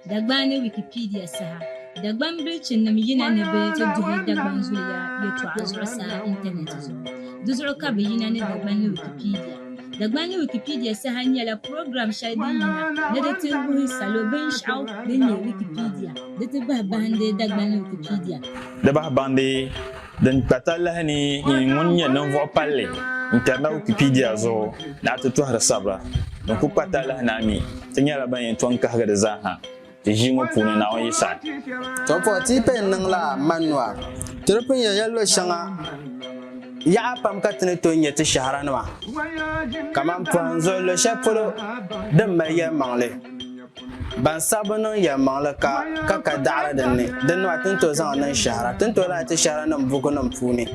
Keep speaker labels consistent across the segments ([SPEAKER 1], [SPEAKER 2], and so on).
[SPEAKER 1] Dagban ni Wikipedia saha Dagban bilichinim yina ni bɛ ti duhi Dagban zuliya yɛtɔɣa zuɣusaa intanɛti zuɣu. Di zuɣu ka bɛ yina ni Dagban ni Wikipedia. Dagban ni Wikipedia saha nyɛla program shɛli din yina ni di ti wuhi salo binshɛɣu din nyɛ Wikipedia di ti bahi bahindi Dagban ni Wikipedia. Di bahi bahindi.
[SPEAKER 2] Din kpa talahi ni yi ŋun nyɛ ninvuɣ palli n-kari na Wikipedia zuɣu ni a ti tɔhiri sabira din kul kpa talahi ni a mi ti nyɛla ban yɛn tɔŋ kahigi di zaa ha ti ʒii ŋɔ puuni, Naawuni yi saɣi. Tɔbuɣu ti yi
[SPEAKER 3] paya n-niŋ la Manua, ti di pun yɛn ya luɣ shɛŋa yaɣa pam ka ti ni tooi nya ti shɛhira nima kaman pɔhim zuɣu luɣ shɛli polo din mali yɛlimaŋli. Ban saɣi bi niŋ yɛlimaŋli ka ka ka daɣiri din ni, din nɔhi ti ni tooi zaŋ niŋ shɛhira, ti ni tooi lahi ti shɛhiranim bukunim puuni.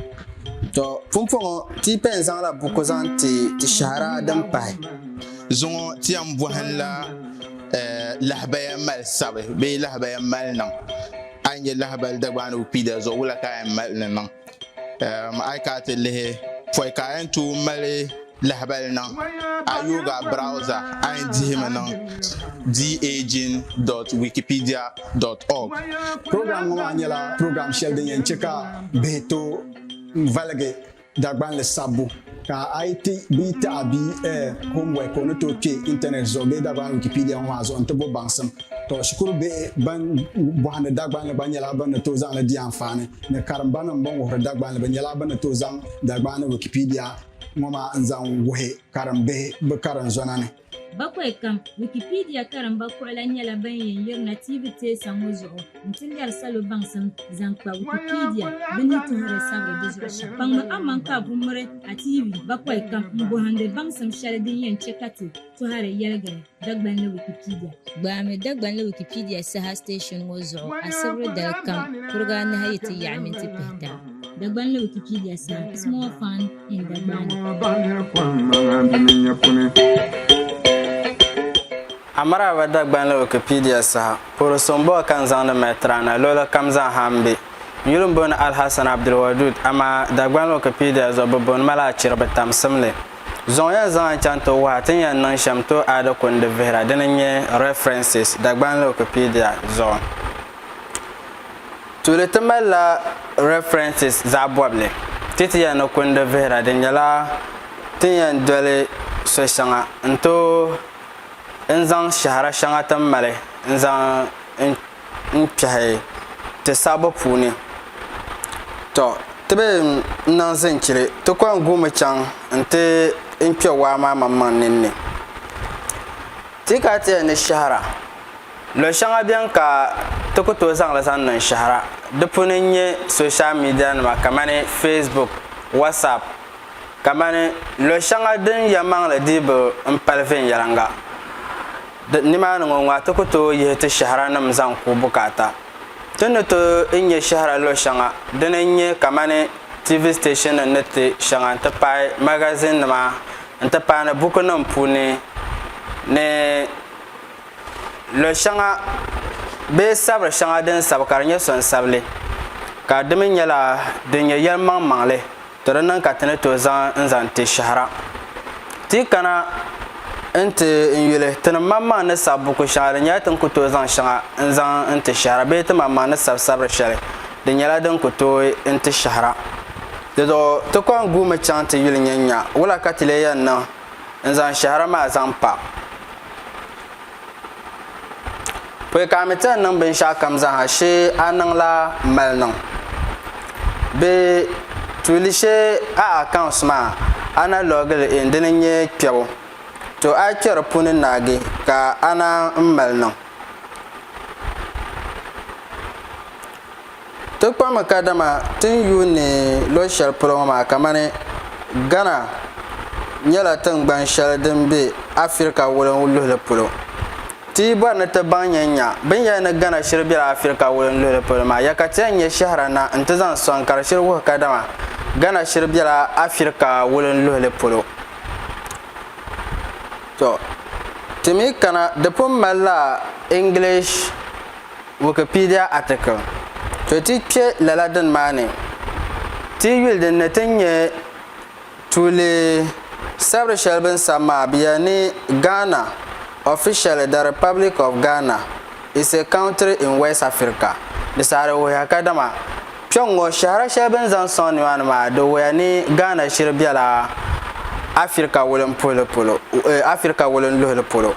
[SPEAKER 3] Tɔ! Pumpɔŋɔ, ti yi pɛn zaŋla buku zaŋ ti ti shɛhira din pahi. Zuŋɔ
[SPEAKER 4] ti yɛn bɔhinla lahabaya mali sabi bee lahabaya mali niŋ. A yi nya lahabali Dagbaanigu Kpiida zuɣu, wula ka a yɛn mali ni niŋ? A yi kana ti lihi pɔi ka a yɛn tooi mali lahabali niŋ a yooga browza a yɛn dihimi niŋ daging.wikipedia.org program
[SPEAKER 5] ŋɔ maa nyɛla program shɛli din yɛn chɛ ka bihi tooi valigi Dagbanli sabbu Ka a yi ti bia taɣi bia eh, homework o ni tooi kpe intanɛt zuɣu bee Dagbani Wikipedia ŋɔ maa zuɣu nti bo baŋsim. Tɔ, shikuru bihi ban bɔhindi Dagbanli gba nyɛla bɛ ni tooi zaŋ li di anfaani ni karimbanim bɛn wuhiri Dagbanli bɛ nyɛla bɛ ni tooi zaŋ Dagbaani Wikipedia ŋɔ maa n-zaŋ wuhi karimbihi bɛ karinzɔna ni. Bakwai kam,
[SPEAKER 1] Wikipedia karimba kuɣila nyɛla ban yɛn yirina tiivi teesa ŋɔ zuɣu nti lɛri salo baŋsim zaŋ kpa Wikipedia bɛ ni tuhiri sabiri di zuɣu shɛm. Kpaŋmi aman ka a ku miri a tiivi bakwai kam m-bɔhindi baŋsim shɛli din yɛn chɛ ka ti tɔhiri yɛligiri Dagbanli Wikipedia. Gbaami Dagbanli Wikipedia saha station ŋɔ zuɣu asibiri dali kam kuriga anahi yi ti yaɣi minti pihita. Dagbanli Wikipedia saha, Small Fund.
[SPEAKER 3] Amaraba Dagbanli Wikipedia saha puhiri so m-bɔŋɔ ka n zaŋdi mali tiraana luɣili kam zaa ha m-be. N yuli m-booni Alhassan Abdulwadud amaa Dagbanli Wikipedia zuɣu bɛ booni ma la Achiriba Tamsimli. Zuŋɔ yɛn zaŋ a n-chaŋ ti wuhi a ti ni yɛn niŋ shɛm tooi a di ku n-di vihira dini n-nyɛ, References, Dagbanli Wikipedia zuɣu. Tuuli ti mali la references zaɣi bɔbili ti ti yɛn ni kundi vihira di nyɛla ti ni yɛn doli so shɛŋa n tooi n zaŋ shɛhira shɛŋa ti ni mali n zaŋ n kpɛhi ti sabbu puuni. Tɔ ti be n niŋ zinchili ti kɔŋ guumi chaŋ n ti n kpɛ waa maa maŋmaŋ ninni. Ti ka ti yɛn ni shɛhira. Lɔ shɛŋa beni ka ti ku tooi zaŋli zaŋ niŋ shɛhira. Di puuni n-nyɛ social media nima kamani Facebook, WhatsApp. Kamani lɔ shɛŋa din ya maŋli dihibu m-pali viɛnyɛliŋga. Di nimaani ŋɔ ŋɔ a ti ku tooi yihi ti shɛhira nim zaŋ ku bukaata. Ti ni tooi n-nyɛ shɛhira lɔ shɛŋa dini n-nyɛ kamani TV station ni ti shɛŋa n-ti pahi magazine nima n-ti pahi ni buku nim puuni ni lɔ shɛŋa bee sabiri shɛŋa din sabi ka di nyɛ sonsabili ka di mi nyɛla din nyɛ yɛlimaŋmaŋli ti di niŋ ka ti ni tooi zaŋ n-zaŋ ti shɛhira. Ti yi kana n-ti n-yuli tinimaŋmaŋ ni sabi buku shɛŋa di nyɛla ti ni ku tooi zaŋ shɛŋa n-zaŋ n-ti shɛhira bee timaŋmaŋ ni sabi sabiri shɛli di nyɛla din ku tooi n-ti shɛhira. Di zuɣu ti kɔŋ guumi chaŋ ti yuli nyɛ nya wula ka ti lee yɛn niŋ n zaŋ shɛhira maa zaŋ pa pɔi ka a mi ti ni niŋ binshɛɣu kam zaaha shee a niŋla mali niŋ bɛ tuuli shee a accounts maa a na logili in dini n nyɛ kpɛbu to a yi kpɛ di puuni naagi ka a naan mali niŋ Ti kpami kadama ti ni yuun ni lo shɛli polo ŋɔ maa kamani Ghana nyɛla tiŋgbani shɛli din be Afirika wulingi luhili polo. Ti yi bɔri ni ti baŋ nyanya bini yɛli ni Ghana shiri bela Afirika wulingi luhili polo maa, ya ka ti yɛn nyɛ shɛhira na nti zaŋ sɔŋ ka di shiri wuhi kadama Ghana shiri bela Afirika wulingi luhili polo. Tɔ! Ti mi kana di pun mali la English. Wikipedia article To ti kpe lala dini maa ni, ti yi yuli din ni ti ni nya tuuli sabiri shɛli bɛ ni sabi maa, bɛ yɛli ni Ghana, officially the Republic of Ghana, is a country in West Africa. Di saɣiri wuhiya kadama kpɛŋŋo shɛhira shɛli bɛ ni zaŋ sɔŋ nimaani maa, di wuhiya ni Ghana shiri bela Afirika wulinpuhili polo, Afirika wulinluhili polo.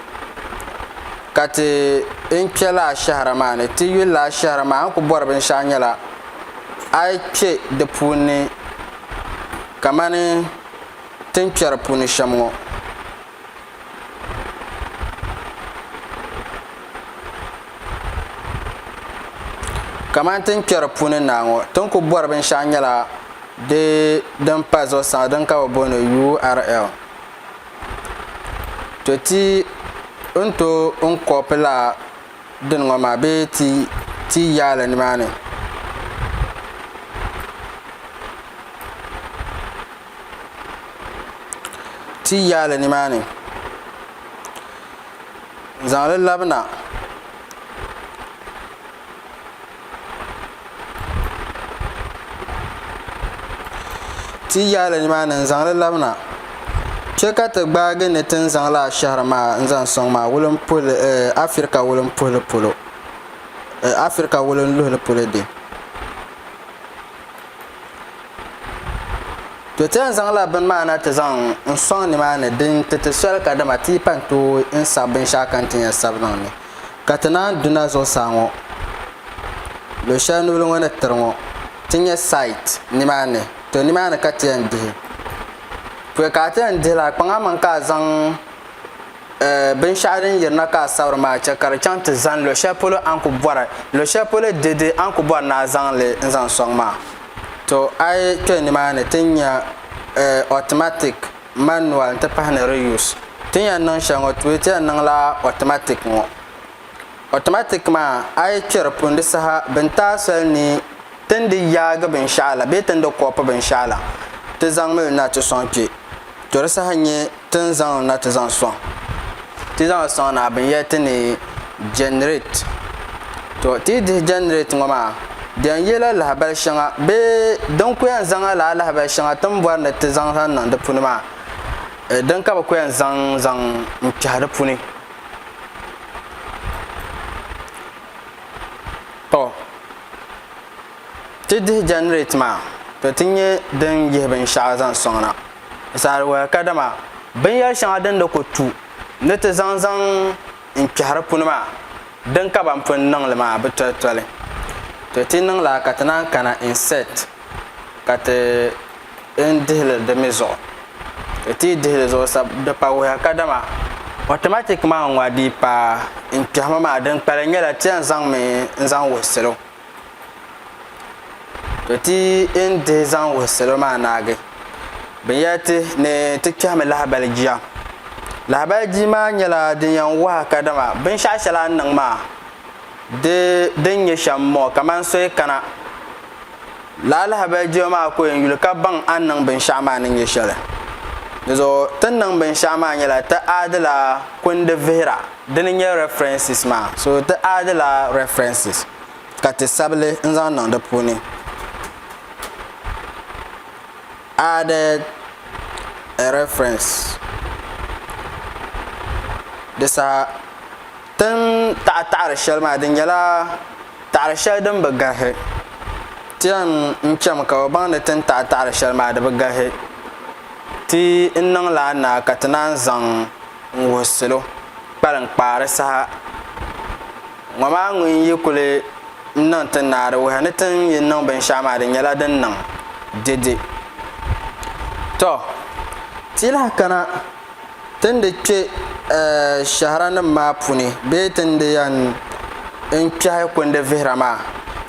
[SPEAKER 3] ka ti n kpe laa shɛhira maa ni, ti yuli laa shɛhira maa a ni ku bɔri binshɛɣu nyɛla a yi kpe di puuni ni kamani ti ni kpɛri puuni shɛm ŋɔ. Kamani ti ni kpɛri puuni naa ŋɔ, ti ni ku bɔri binshɛɣu nyɛla di din pa zuɣusaa din ka bɛ booni URL. To ti n to n kɔpi la din ŋɔ maa bee ti ti yaali nimaani. Ti yaali nimaani. Zaŋli labina. Ti yi yaai li nimaani n-zaŋ li labi na, chɛ ka ti gbaagi ni ti ni zaŋ lala shɛhiri maa n-zaŋ sɔŋ maa wulimpuhili, Afirika wulimpuhili polo, Afirika wulinluhili polo dɛ. To ti yɛn zaŋla bini maa na ti zaŋ n-sɔŋ nimaani din ti ti soli kadama ti yi pa n-tooi n-sabi binshɛɣu ka n ti yɛn sabi niŋ ni. Ka ti naan duna zuɣusaa ŋɔ, luɣ shɛli nubili ŋɔ ni tiri ŋɔ, ti nya sait nimaani, to nimaani ka ti yɛn dihi. Pɔi ka a ti yɛn dihi la, kpaŋ amaŋ ka a zaŋ binshɛɣu din yirina ka a sabiri maa chɛ ka di chaŋ ti zani luɣ shɛli polo a ni ku bɔri luɣ shɛli polo dɛde a ni ku bɔri ni a zaŋ li n-zaŋ sɔŋ maa. To a yi kpe nimaani ti nya automatic manual n ti pahi ni reuse ti ni yɛn niŋ shɛli ŋɔ tuui ti yɛn niŋla automatic ŋɔ automatic maa a yi kpɛri pun di saha bin taai soli ni tin di yaagi binshaɣu la bee tin di kɔpu binshaɣu la ti zaŋ mili na ti sɔŋ kpɛ to di saha n nyɛ tin zaŋ na ti zaŋ sɔŋ ti zaŋ sɔŋ na binyɛri ti ni Generate, To ti yi dihi generate ŋɔ maa, di yɛn yela lahabali shɛŋa bee din ku yɛn zaŋla lala lahabali shɛŋa ti ni bɔri ni ti zaŋ zaŋ niŋ di puni maa, din ka bi ku yɛn zaŋ zaŋ n-kpɛhi di puni. To ti dihi generate maa, to ti nyɛ din yihi binshɛɣu zaŋ sɔŋ na. Saha di wali kadama binyɛri shɛŋa din ni ku tu ni ti zaŋ zaŋ n kpɛhiri puni maa, din ka ban pun niŋ li maa bi toli toli. To ti niŋ lala ka ti naan kana insert ka ti n dihi li di mi zuɣu. To ti yi dihi li zuɣu sa di pa wuhiya kadama automatic maa ŋɔ a dii paai n kpɛhimi maa din kpalim nyɛla ti yɛn zaŋ mi n zaŋ wuhi salo. To ti yi ni dihi zaŋ wuhi salo maa naagi binyɛri ti ni ti kpɛhimi lahabali jia lahabali jia maa nyɛla din yɛn waha kadama binshɛɣu shɛli a ni niŋ maa di din nyɛ shɛm n bɔŋɔ kamani so yi kana lala lahabali jia maa ku yɛn yuli ka baŋ a ni niŋ binshɛɣu maa ni nyɛ shɛli dizuɣu ti ni niŋ binshɛɣu maa nyɛla ti aadila kundi vihira dini nyɛ references maa so ti add la references ka ti sabili n zaŋ niŋ di puuni added a reference di saha tin taɣi taɣiri shɛli maa di nyɛla taɣiri shɛli din bi garisi ti yɛn n chami ka o baŋ ni tin taɣi taɣiri shɛli maa di bi garisi ti n niŋ la a naa ka ti naan zaŋ n wuhi salo kpalinkpaari saha ŋɔ maa ŋun yi kuli niŋ ti ni a di wuhi ni ti ni yi niŋ binshɛɣu maa di nyɛla din niŋ dede tɔ ti yi lahi kana ti ni di kpe shɛhiranim maa puuni bee ti ni di yɛn kpɛhi kundi vihira maa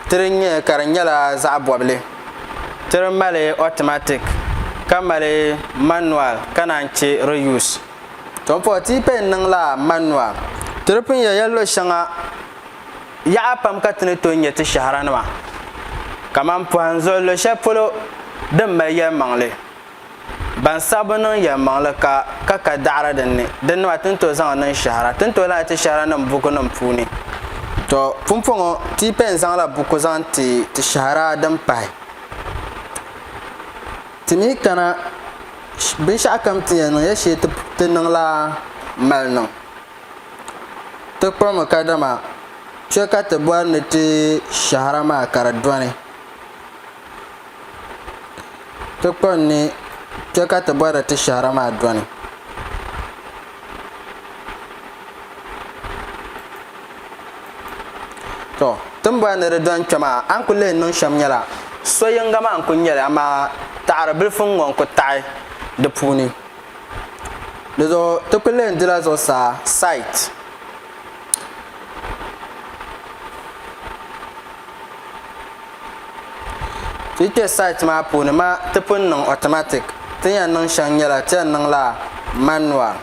[SPEAKER 3] ti di nya ka di nyɛla zaɣ bɔbili tiri mali automatic ka mali manual ka naan che reuse. Ton puhi ti yi pɛn niŋ la manual tiri pun ya ya luɣi shɛŋa yaɣa pam ka tini tooi nya ti shɛhira nima kaman pohan zuɣu luɣi shɛli polo din mali yɛlimaŋli. Ban saɣi bi niŋ yɛlimaŋli ka ka ka daɣiri din ni, di nima ti ni tooi zaŋ niŋ shɛhira, ti ni tooi lahi ti shɛhiranim bukunim puuni. Tɔ! Pumpɔŋɔ ti yi pɛn zaŋla buku zaŋ ti ti shɛhira din pahi, ti mi kana binshɛɣukam ti yɛn niŋ ya shee ti niŋla mali niŋ. Ti kpuɣimi kadama kpe ka ti bɔri ni ti shɛhira maa ka di dɔni. Ti kpa n ni kpe ka ti bɔri ti shɛhira maa dɔni. Tɔ, ti ni bɔri ni di dɔni kpe maa, a ni kul leei niŋ shɛm nyɛla, so yiŋga maa n-kul nyɛ li, amaa taɣiri bilifu n-ŋɔ n-kul taɣi di puuni. Dizuɣu ti kul leei dila zuɣusaa, site. Ti yi kpe site maa puuni ma ti pun niŋ automatic ti yɛn niŋ shɛŋa nyɛla ti yɛn niŋla manual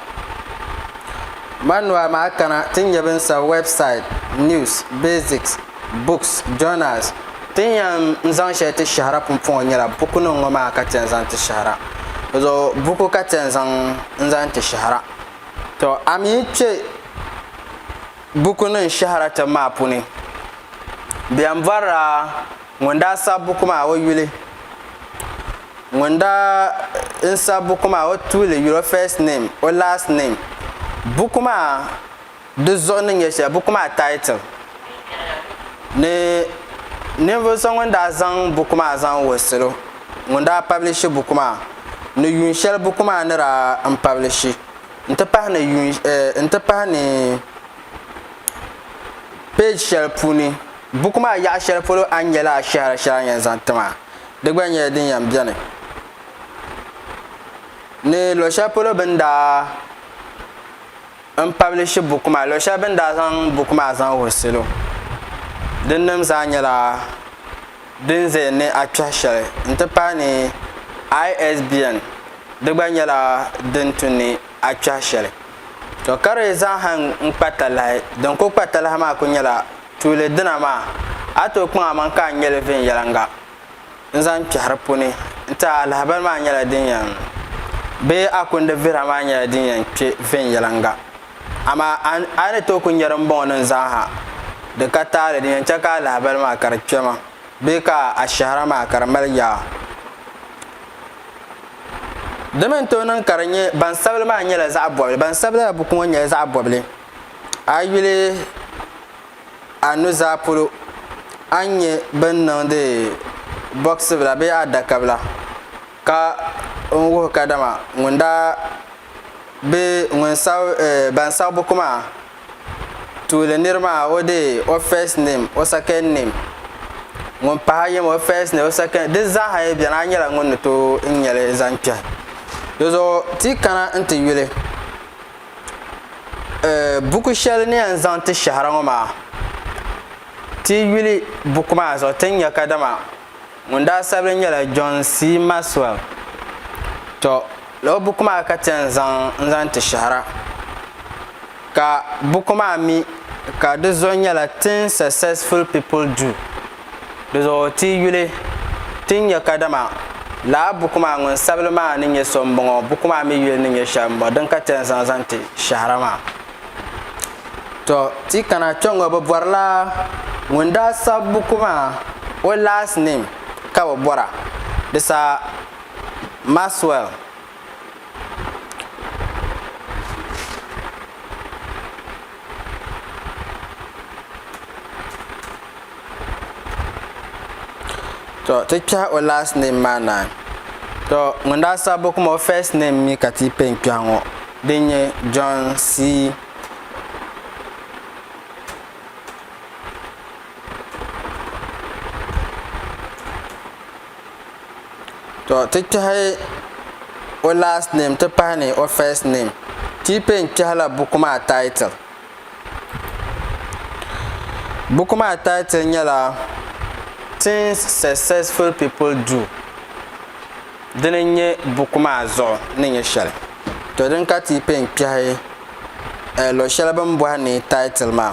[SPEAKER 3] manual maa kana ti nyɛ bin sabi website news basics books journals ti yɛn zaŋ shɛli ti shɛhira pumpɔŋɔ nyɛla buku nim ŋɔ maa ka ti yɛn zaŋ ti shɛhira di zuɣu buku ka ti yɛn zaŋ n zaŋ ti shɛhira. Tɔ, a mi yi kpe bukunim shɛhira tibu maa puuni, bɛ yɛn bɔrila ŋun daa sabi buku maa o yuli, ŋun daa n sabi buku maa o tuuli yuli, o first name, o last name, buku maa di zuɣu ni nyɛ shɛli, buku maa title, ni ninvuɣ so ŋun daa zaŋ buku maa zaŋ wuhi salo. ŋun daa pabilishi buku maa, ni yuun shɛli buku maa ni daa n pabilishi n-ti pahi ni yuun n-ti pahi ni peeji shɛli puuni buku maa yaɣa shɛli polo a ni nyɛ la ashɛhira shɛli a ni yɛn zaŋ ti maa di gba nyɛla din yɛn beni ni luɣ shɛli polo bɛ ni daa n pabilishi buku maa luɣ shɛli bɛ ni daa zaŋ buku maa zaŋ wuhi salo dinnim zaa nyɛla din zaya ni a kpɛhi shɛli n-ti pahi ni ISBN di gba nyɛla din tu ni a kpɛhi shɛli. To ka di zaŋha n-kpa talahi, din kul kpa talahi maa kul nyɛla tuuli dina maa a tooi kpaŋ amaŋ ka a nya li viɛnyɛliŋga n-zaŋ kpɛhi di puuni n-ti a lahibali maa nyɛla din yɛn bee a kundi vihira maa nyɛla din yɛn kpe viɛnyɛliŋga. Amaa a ni tooi ku nya dimbɔŋɔ ni n zaŋ ha, di ka taali di yɛn chɛ ka a lahibali maa ka di kpe ma bee ka a shɛhira maa ka di mali yaa. Di mi ni tooi niŋ ka di nyɛ bansabili maa nyɛla zaɣ bɔbili. Bansabili la buku ŋɔ nyɛla zaɣ bɔbili. A yi yuli a nuzaa polo a ni nya bɛ ni niŋdi bɔɣisibila bee adakabila ka n wuhi kadama ŋun daa bɛ ŋun sab, eh, ban sag buku maa tuuli nir maa o deei o first name, o second name, ŋun pahi yim o first name, o second, di zaaha yi beni a nyɛla ŋun ni tooi n-nya li zaŋ kpɛhi. Di zuɣu ti yi kana nti yuli, eh, buku shɛli ni yɛn zaŋ ti shɛhira ŋɔ maa, ti yi yuli buku maa zuɣu ti ni nya kadama. Ŋun daa sabili nyɛla John C. Maxwell. Tɔ, lala buku maa ka ti yɛn zaŋ n-zaŋ ti shɛhira. Ka buku maa mi ka di zuɣu nyɛla Things Successful People Do. Di zuɣu ti yi yuli, ti ni nya kadama lala buku maa ŋun sabili maa ni nyɛ so m-bɔŋɔ, buku maa mi yuli ni nyɛ shɛli m-bɔŋɔ din ka ti yɛn zaŋ zaŋ ti shɛhira maa. Tɔ! Ti kana kpɛŋɔ bɛ bɔrila ŋun daa sabi buku maa o last name ka bɛ bɔra. Di sa Maxwell. to ti kpɛhi o last name maa naan to ŋun daa sabi buku maa o first name mi ka ti pɛ n kpɛhi ŋɔ din nyɛ John C to ti kpɛhi o last name ti pahi ni o first name ti pɛ n kpɛhila buku maa title Buku maa title nyɛla Things Successful People Do dini n nyɛ buku maa zuɣu ni nyɛ shɛli to din ka ti pɛ n kpɛhi luɣi shɛli bini bɔhi ni title maa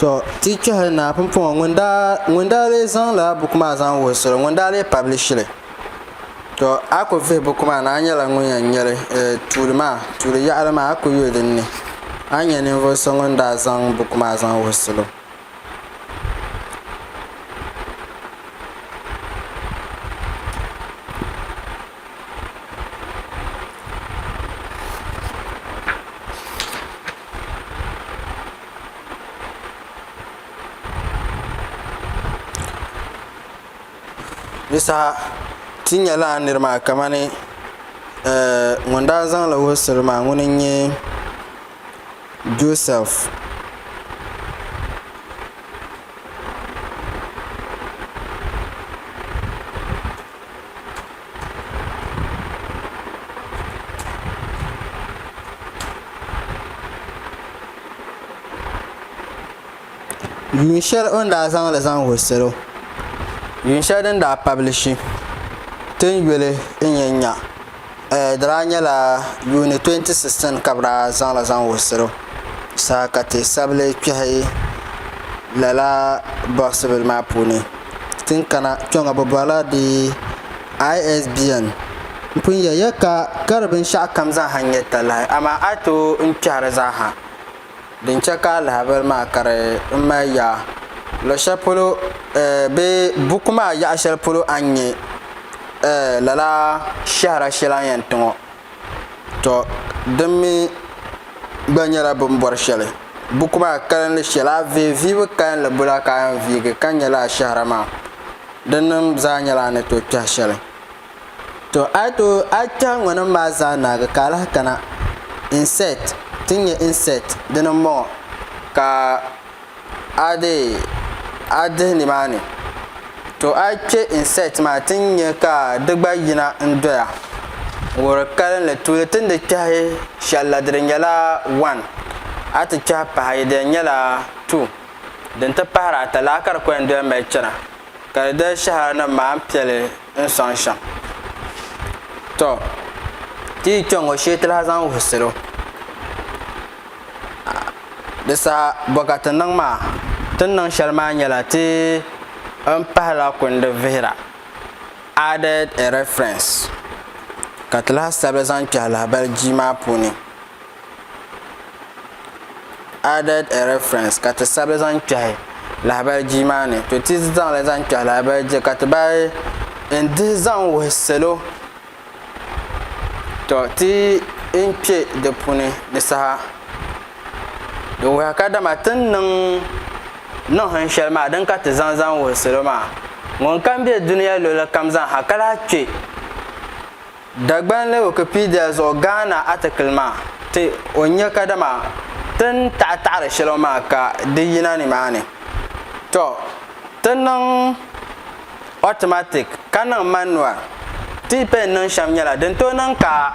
[SPEAKER 3] To ti kpɛhi naa pumpɔŋɔ ŋun daa lee zaŋla buku maa zaŋ wuhusiri ŋun daa lee pablishili to a ku vihi buku maa ni a nyɛla ŋun yɛn nyɛli tuuli maa tuuli yaɣali maa a ku yuli dinni a ni nyɛ ninvuɣu so ŋun daa zaŋ buku maa zaŋ wuhi salo di saha ti nyɛla niri maa kamani eh, ŋun daa zaŋla wuhusiri maa ŋuni n nyɛ joseph yuun shɛli o ni daa zaŋli zaŋ wuhi salo yuun shɛli din daa pabilishi ti ni yuli n-nyɛ nya. di daa nyɛla yuuni 2016 ka bɛ daa zaŋ li zaŋ wuhiri saha ka ti sabili kpɛhi lala bɔɣisi bila maa puuni tin kana kpɛŋɔ bɛ bɔrila di ISBN n pun yɛliya ka di binshɛɣukam zaa ha nyɛ talahi amaa a yi tooi kpɛhi di zaa ha Din chɛ ka alahabali maa kari n mali yaa luɣ shɛli polo bee buku maa yaɣ shɛli polo a ni nyɛ lala shɛhira shɛli a ni yɛn ti ŋɔ, tɔ din mi gba nyɛla bɛ ni bɔri shɛli. Buku maa kalinli shɛli a vihi vihibu kalinli bula ka a yɛn viigi ka nya lala shɛhira maa? Dinnim zaa nyɛla a ni tooi kpɛhi shɛli. To a yi tooi a yi kpɛhi ŋɔnim maa zaa naagi ka alahi kana, insect, ti nya insect dini n bɔŋɔ ka a dee a dihi nimaani to a yi kpɛ insect maa ti ni nya ka di gba yina n doya wuhiri kalinli tuuli ti ni di kpɛhi shɛli la di di nyɛla one a ti kpɛhi pahi yi di yɛn nyɛla two din ti pahiri ata laa ka di ku yɛn doya mali chana ka di dali shɛhira nim maa n piɛli n sɔŋ shɛm tɔ ti yi kpɛŋ ŋɔ shee ti lahi zaŋ wuhi salo di saha bɔkati niŋ maa ti ni niŋ shɛli maa nyɛla ti n pahila kundi vihira added a reference ka ti lahi sabigi zaŋ kpɛhi lahabali jia maa puuni added a reference ka ti sabi zaŋ kpɛhi lahabali jia maa ni to ti zaŋli zaŋ kpɛhi lahabali jia ka ti bahi n dihi zaŋ wuhi salo to ti n kpɛ di puuni ni saha di wuhi ka dama ti ni niŋ niŋ hin shɛli maa din ka ti zaŋ zaŋ wuhi salo maa ŋun kam bɛ dunia luɣuli kam zaa ha ka lahi kpɛ Dagbanli Wikipedia zuɣu Ghana atikili maa ti o nya kadama ti ni taɣi taɣiri shɛlɔŋ maa ka di yina nimaani. Tɔ! Ti niŋ automatic ka niŋ manual. Ti pɛn niŋ shɛm nyɛla din tooi niŋ ka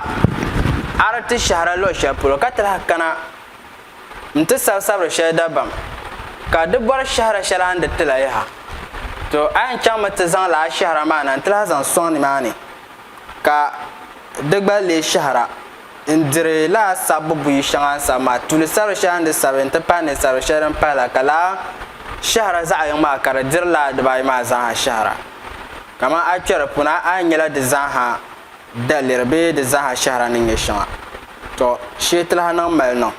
[SPEAKER 3] a di ti shɛhira luɣ shɛli polo ka ti lahi kana n-ti sabi sabiri shɛli dabam ka di bɔri shɛhira shɛli a ni di ti la yaha. Tɔ! A yɛn chaŋmi ti zaŋ lala shɛhira maa na n-ti lahi zaŋ sɔŋ nimaani. ka di gba lee shɛhira n-diri lala sabbu buyi shɛŋa n sabi maa, tuuli sabiri shɛli n di sabiri n-ti pahi ninsabiri shɛli din pahi la ka lala shɛhira zaɣ'yiŋ maa ka di diri lala dibaayi maa zaaha shɛhira. Kamani a kpɛri puuni a a nyɛla di zaaha daliri bee di zaaha shɛhira ni nyɛ shɛŋa. Tɔ! Shee ti lahi niŋ mali niŋ.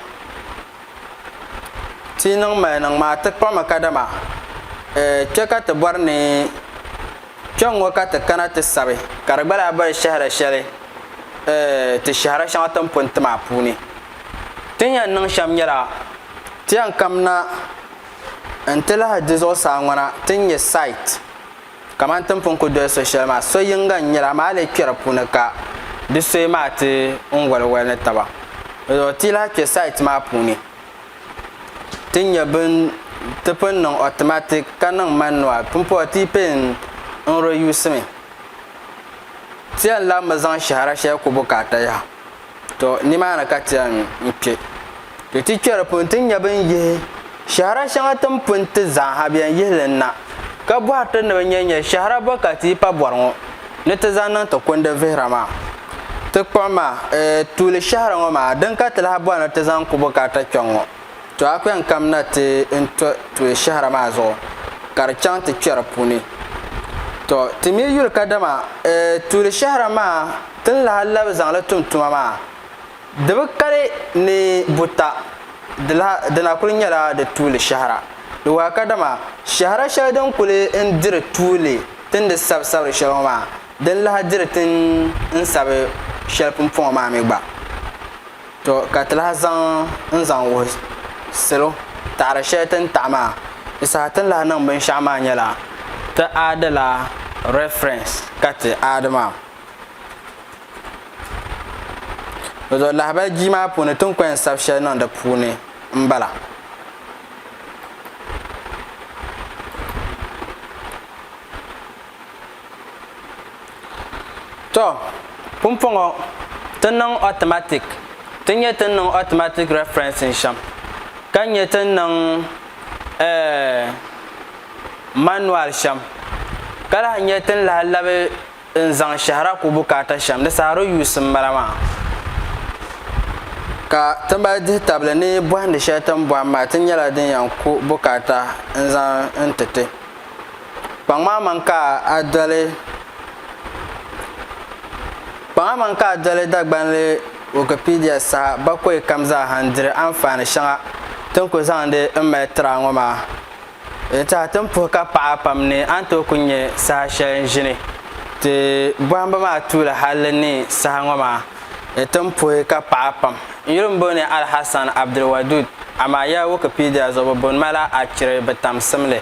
[SPEAKER 3] Ti yi niŋ mali niŋ maa ti kpuɣimi kadama eh kpe ka ti bɔri ni Kpɛŋŋɔ ka ti kana ti sabi ka di gba lahi boli shɛhira shɛli ti shɛhira shɛŋa ti ni pun ti maa puuni. Ti ni yɛn niŋ shɛm nyɛla, ti yɛn kamina nti lahi di zuɣusaa ŋɔna ti ni nyɛ site kamani ti ni pun ku doli so shɛli maa, so yiŋga n-nyɛli amaa a lee kpɛri di puuni ka di soya maa ti n waliwali ni taba. Di zuɣu ti yi lahi kpɛ site maa puuni. ti nyɛ bin ti pun niŋ automatic ka niŋ manual pumpɔɣu ti yi pay n reuse mi ti yɛn lahi mi zaŋ shɛhira shɛli ku bukaata yaha to nimaani ka ti yɛn kpɛ to ti kpɛ di puuni ti nyɛ bin yihi shɛhira shɛŋa tin pun ti zaaha bi yɛn yihi li na ka bɔhiri ti ni bi nyɛ nyɛ shɛhira bɔ ka ti yi pa bɔri ŋɔ ni ti zaŋ niŋ ti kundi vihira maa. Ti kpuɣi ma, eh, tuuli shɛhiri ŋɔ maa, din ka ti lahi bɔri ni ti zaŋ ku bukaata kpiɔŋ ŋɔ. To a kpiɔŋ kam na ti n to tuuli shɛhira maa zuɣu, ka di chaŋ ti kpɛri puuni. To, ti mi yuli kadama, eh, tuuli shɛhira maa ti ni lahi labi zaŋ li tum tuma maa, di bi kali ni buta, di lahi, di na kuli nyɛla di tuuli shɛhira. Di wahi kadama shɛhira shɛli din kuli n diri tuuli tindi sabisabiri shɛli ŋɔ maa. Din lahi diri ti n sabi shɛli pumpɔŋɔ maa mi gba, tɔ ka ti lahi zaŋ n zaŋ wuhi salo taɣiri shɛli ti ni taɣi maa. Di saha ti ni lahi niŋ binshɛɣu maa nyɛla ti aadi la reference ka ti aadi maa. Dɔdɔ lahibali jia maa puuni ti ni ko yɛn sabi shɛli niŋ di puuni m-bala. To, pumpɔŋɔ ti niŋ automatic, ti nyɛ ti niŋ automatic referencing shɛm, ka nyɛ ti niŋ eh, manual shɛm, ka lahi nyɛ ti ni lahi labi n zaŋ shɛhira ku bukaata shɛm di saha di use m bala maa. Ka ti mali dihi tabili ni bɔhindi shɛli ti ni bɔhim maa ti nyɛla din yɛn ku bukaata n zaŋ n ti ti Kpaŋmaŋ man ka a doli Kpaŋa man ka a doli Dagbanli Wikipedia saha bakɔi kam zaaha n-diri anfaani shɛŋa ti ni ku zaŋdi m mali tiri a ŋɔ maa. Di tɛha ti ni puhi ka paɣi a pam ni a ni tooi ku nya saha shɛli n-ʒini ti bɔhimbu maa tuuli hal di ni saha ŋɔ maa di ti ni puhi ka paɣi a pam. N yuli m-boli ni Alhassan Abdulwadud amaa ya Wikipedia zuɣu bɛ boni ma la a chiri bɛ tamsimli.